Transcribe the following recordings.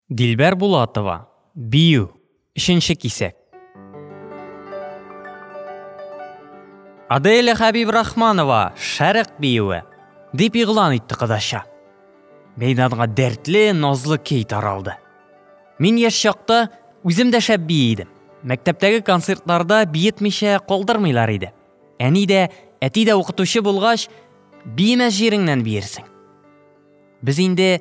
Дилбәр Булатова, бию, өченче кисәк. Аделя Хәбибрахманова, шәрык биюе, дип игълан итте кодача. Мәйданга дәртле, назлы кей таралды. Мин яшь чакта үзем дә шәп бии идем. Мәктәптәге концертларда биетмичә калдырмыйлар иде. Әни дә, әти дә укытучы булгач, биемәс җиреңнән биерсең. Без инде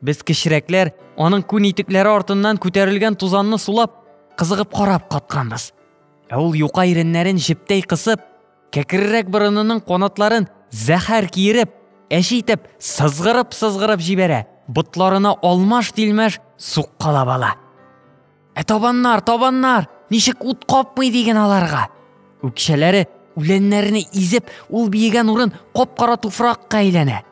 Без кечерәкләр аның күн итекләре артыннан күтәрелгән тузанны сулап, кызыгып карап катканбыз. Ә ул юка иреннәрен җептәй кысып, кәкрерәк борынының канатларын зәһәр киереп, әче итеп сызгырып-сызгырып җибәрә, ботларына алмаш-тилмәш суккалап ала. Ә табаннар, табаннар, ничек ут капмый диген аларга. Үкчәләре үләннәрне изеп, ул биегән урын кап-кара туфракка әйләнә.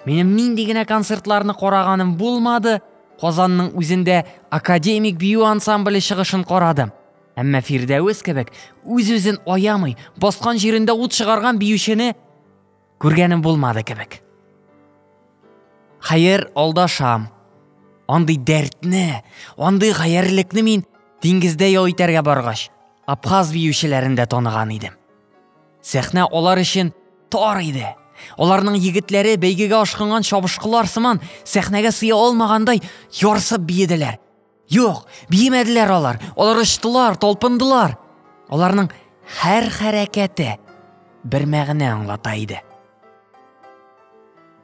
Минем нинди генә концертларны караганым булмады, Казанның үзендә академик бию ансамбле чыгышын карадым. Әмма Фирдәвес кебек үз-үзен аямый, баскан җирендә ут чыгарган биючене күргәнем булмады кебек. Хәер, алдашам. Андый дәртне, андый гаярлекне мин диңгездә ял итәргә баргач, Абхаз биючеләрендә таныган идем. Сәхнә алар өчен тар иде. Аларның егетләре бәйгегә ашкынган чабышкылар сыман сәхнәгә сыя алмагандай ярсып биеделәр. Юк, биемәделәр алар. Алар очтылар, талпындылар. Аларның һәр хәрәкәте бер мәгънә аңлата иде.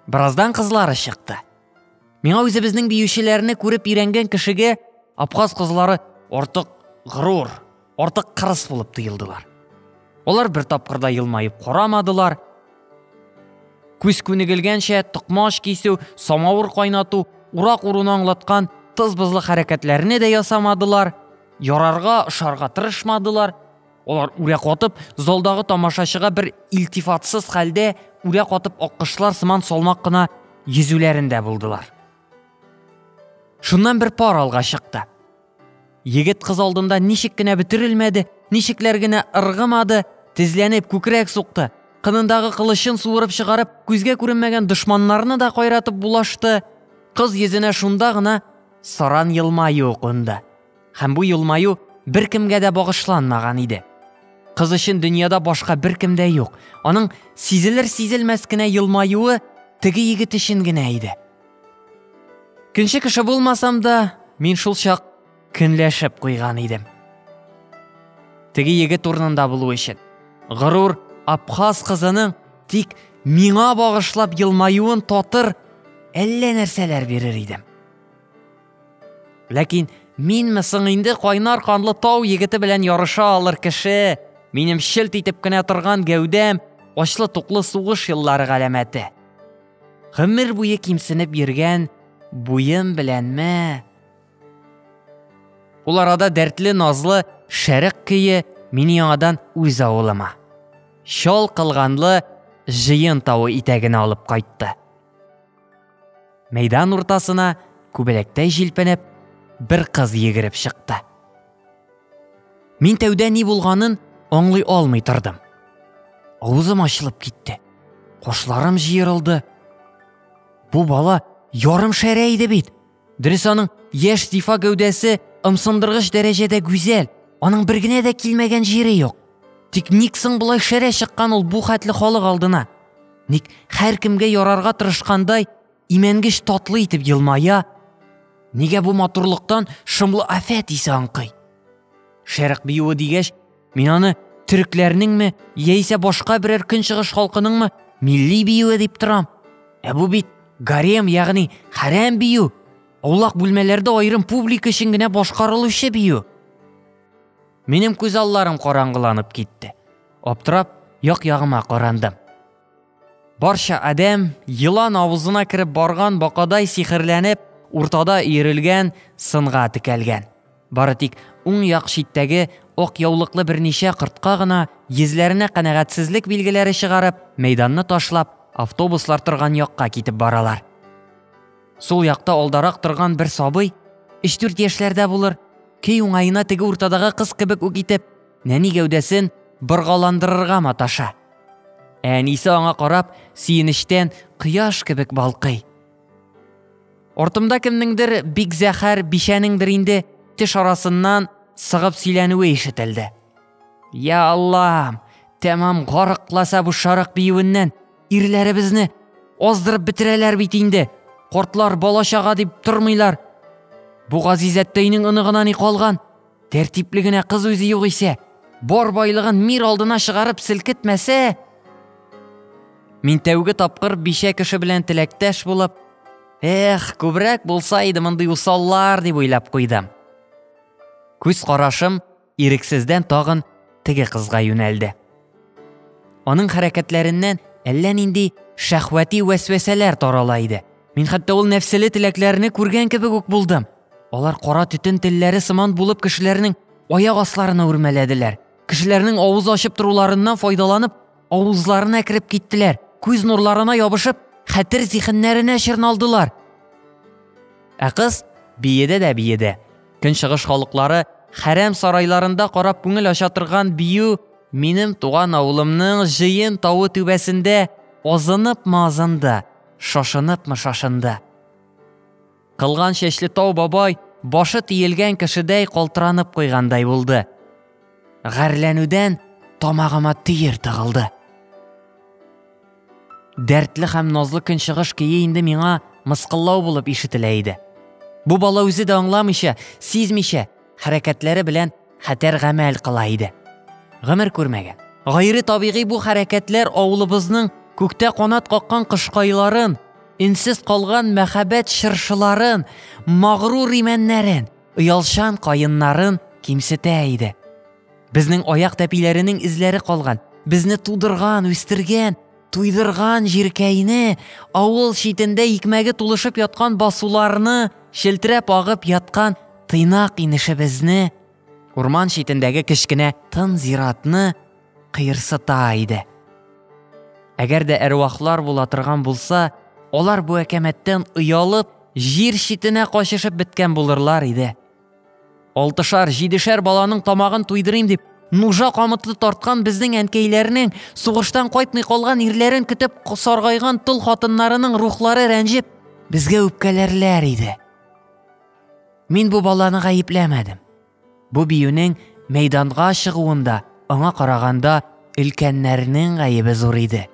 Бераздан кызлары чыкты. Миңа үзебезнең биючеләрне күреп өйрәнгән кешегә Абхаз кызлары артык горур, артык кырыс булып тоелдылар. Алар бер тапкырда елмаеп карамадылар. Күз күнегелгәнчә токмач кисү, самавыр кайнату, урак уруны аңлаткан тыз-бызлы хәрәкәтләрне дә ясамадылар, ярарга, ошарга тырышмадылар. Алар үрә катып, залдагы тамашачыга бер илтифатсыз хәлдә үрә катып аккышлар сыман салмак кына йөзүләрендә булдылар. Шуннан бер пар алга чыкты. Егет кыз алдында ничек кенә бөтерелмәде, ничекләр генә ыргымады, тезләнеп күкрәк сукты, кынындагы кылычын суырып чыгарып, күзгә күренмәгән дошманнарны да кайратып булашты. Кыз йөзенә шунда гына саран елмаю кунды. Һәм бу елмаю беркемгә дә багышланмаган иде. Кыз өчен дөньяда башка беркем дә юк. Аның сизелер-сизелмәс кенә елмаюы теге егет өчен генә иде. Көнче кеше булмасам да, мин шул чак көнләшеп куйган идем. Теге егет урынында булу өчен горур Абхаз кызының тик миңа багышлап елмаюын татыр әллә нәрсәләр бирер идем. Ләкин минме соң инде кайнар канлы тау егете белән ярыша алыр кеше? Минем шелт итеп кенә торган гәүдәм, ачлы туклы сугыш еллары галәмәте. Гомер буе кимсенеп йөргән буем беләнме? Ул арада дәртле назлы шәрык көе мине яңадан үз авылыма. Шал кылганлы җыен тавы итәгенә алып кайтты. Мәйдан уртасына күбәләктәй җилпенеп бер кыз егереп чыкты. Мин тәүдә ни булганын аңлый алмый тордым. Авызым ачылып китте. Кошларым җыерылды. Бу бала ярым шәрә иде бит. Дөрес аның яшь зифа гәүдәсе ымсындыргыч дәрәҗәдә гүзәл, аның бер генә дә килмәгән җире юк. Тик ник соң болай шәрә чыккан ул бу хәтле халык алдына? Ник һәркемгә ярарга тырышкандай, имәнгеч татлы итеп елмая? Нигә бу матурлыктан шомлы афәт исе аңкый? Шәрык биюе дигәч, Мин аны төрекләрнеңме, яисә башка берәр көнчыгыш халкыныңмы милли биюе дип торам. Ә бу бит гарем, ягъни хәрәм бию. Аулак бүлмәләрдә аерым публика өчен генә башкарылучы бию. Минем күз алларым караңгыланып китте. Аптырап, як-ягыма карандым. Барча адәм, елан авызына кереп барган бакадай сихерләнеп, уртада өерелгән сынга текәлгән. Бары тик уң як читтәге ак яулыклы берничә кортка гына, йөзләренә канәгатьсезлек билгеләре чыгарып, мәйданны ташлап, автобуслар торган якка китеп баралар. Сул якта алдарак торган бер сабый, өч-дүрт яшьләрдә булыр, көй уңаена теге уртадагы кыз кебек үк итеп, Нәни гәүдәсен боргаландырырга маташа. Әнисе аңа карап, сөенечтән кояш кебек балкый. Ортымда кемнеңдер бик зәхәр бишәнеңдер инде теш арасыннан сыгып сөйләнүе ишетелде. Я Аллам, тәмам гарыкласа бу шарык биюеннән ирләребезне аздырып бетерәләр бит инде. Кортлар балачага дип тормыйлар. Бу газизәттәйнең оныгына ни калган? Тәртипле генә кыз үзе югыйсә, бар байлыгын мир алдына чыгарып селкетмәсә. Мин тәүге тапкыр бишә кеше белән теләктәш булып, эх, күбрәк булса иде мондый усаллар дип уйлап куйдым. Күз карашым ирексездән тагын теге кызга юнәлде. Аның хәрәкәтләреннән әллә нинди шәхвәти вәсвәсәләр тарала иде. Мин хәтта ул нәфселе теләкләрне күргән кебек үк булдым. Алар кара төтен телләре сыман булып кешеләрнең аяк асларына үрмәләделәр. Кешеләрнең авыз ачып торуларыннан файдаланып, авызларына кереп киттеләр. Күз нурларына ябышып, хәтер зихеннәренә чорналдылар. Ә кыз биеде дә биеде. Көнчыгыш халыклары хәрәм сарайларында карап күңел ача торган бию минем туган авылымның җыен тавы түбәсендә азынып-мы азынды, шашынып-мы шашынды. Кылган чәчле тау бабай башы тиелгән кешедәй калтыранып куйгандай булды. Гарләнүдән тамагыма төер тыгылды. Дәртле һәм назлы көнчыгыш көе инде миңа мыскыллау булып ишетелә иде. Бу бала үзе дә аңламыйча, сизмичә, хәрәкәтләре белән хәтәр гамәл кыла иде. Гомер күрмәгән. Гайре табигый бу хәрәкәтләр авылыбызның күктә канат каккан кошкайларын, инсез калган мәхәббәт чыршыларын, магрур имәннәрен, оялчан каеннарын кимсетә иде. Безнең аяк тәпиләренең эзләре калган. Безне тудырган, үстергән, туйдырган җиркәйне, авыл читендә икмәге тулышып яткан басуларны, челтерәп агып яткан тыйнак инешебезне, урман читендәге кечкенә тын зиратны кыерсыта иде. Әгәр дә әрвахлар була торган булса, алар бу әкәмәттән оялып, җир читенә качышып беткән булырлар иде. Алтышар, җидешәр баланың тамагын туйдырыйм дип, нужа камыты тарткан безнең әнкәйләрнең, сугыштан кайтмый калган ирләрен көтеп саргайган тол хатыннарының рухлары рәнҗеп, безгә үпкәләрләр иде. Мин бу баланы гаепләмәдем. Бу биюнең мәйданга чыгуында аңа караганда өлкәннәрнең гаебе зур иде.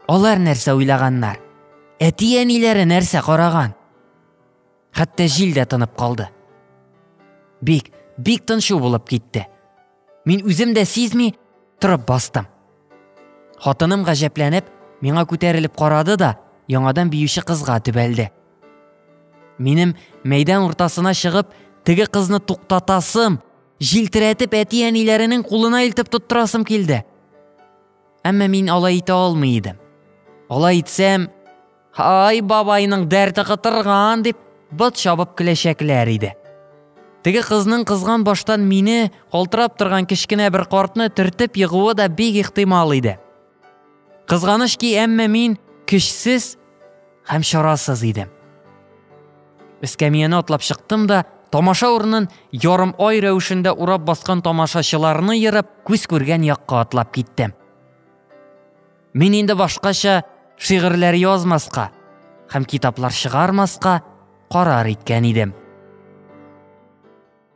Алар нәрсә уйлаганнар? Әти-әниләре нәрсә караган? Хәтта җил дә тынып калды. Бик, бик тынчу булып китте. Мин үзем дә сизми торып бастым. Хатыным гаҗәпләнеп, миңа күтәрелеп карады да, яңадан биюче кызга төбәлде. Минем мәйдан уртасына чыгып, теге кызны туктатасым, җилтерәтеп әти-әниләренең кулына илтеп тоттырасым килде. Әмма мин алай итә алмый идем. Алай итсәм, Ай, бабайның дәрте кытырган дип, бот чабып көләчәкләр иде. Теге кызның кызган баштан мине, калтырап торган кечкенә бер картны төртеп егуы да бик ихтимал иде. Кызганыч ки, әмма мин көчсез һәм чарасыз идем. Эскәмияне атлап чыктым да, тамаша урынын ярым ай рәвешендә урап баскан тамашачыларны ерып, күз күргән якка атлап киттем. Мин инде башкача шигырьләр язмаска һәм китаплар чыгармаска карар иткән идем.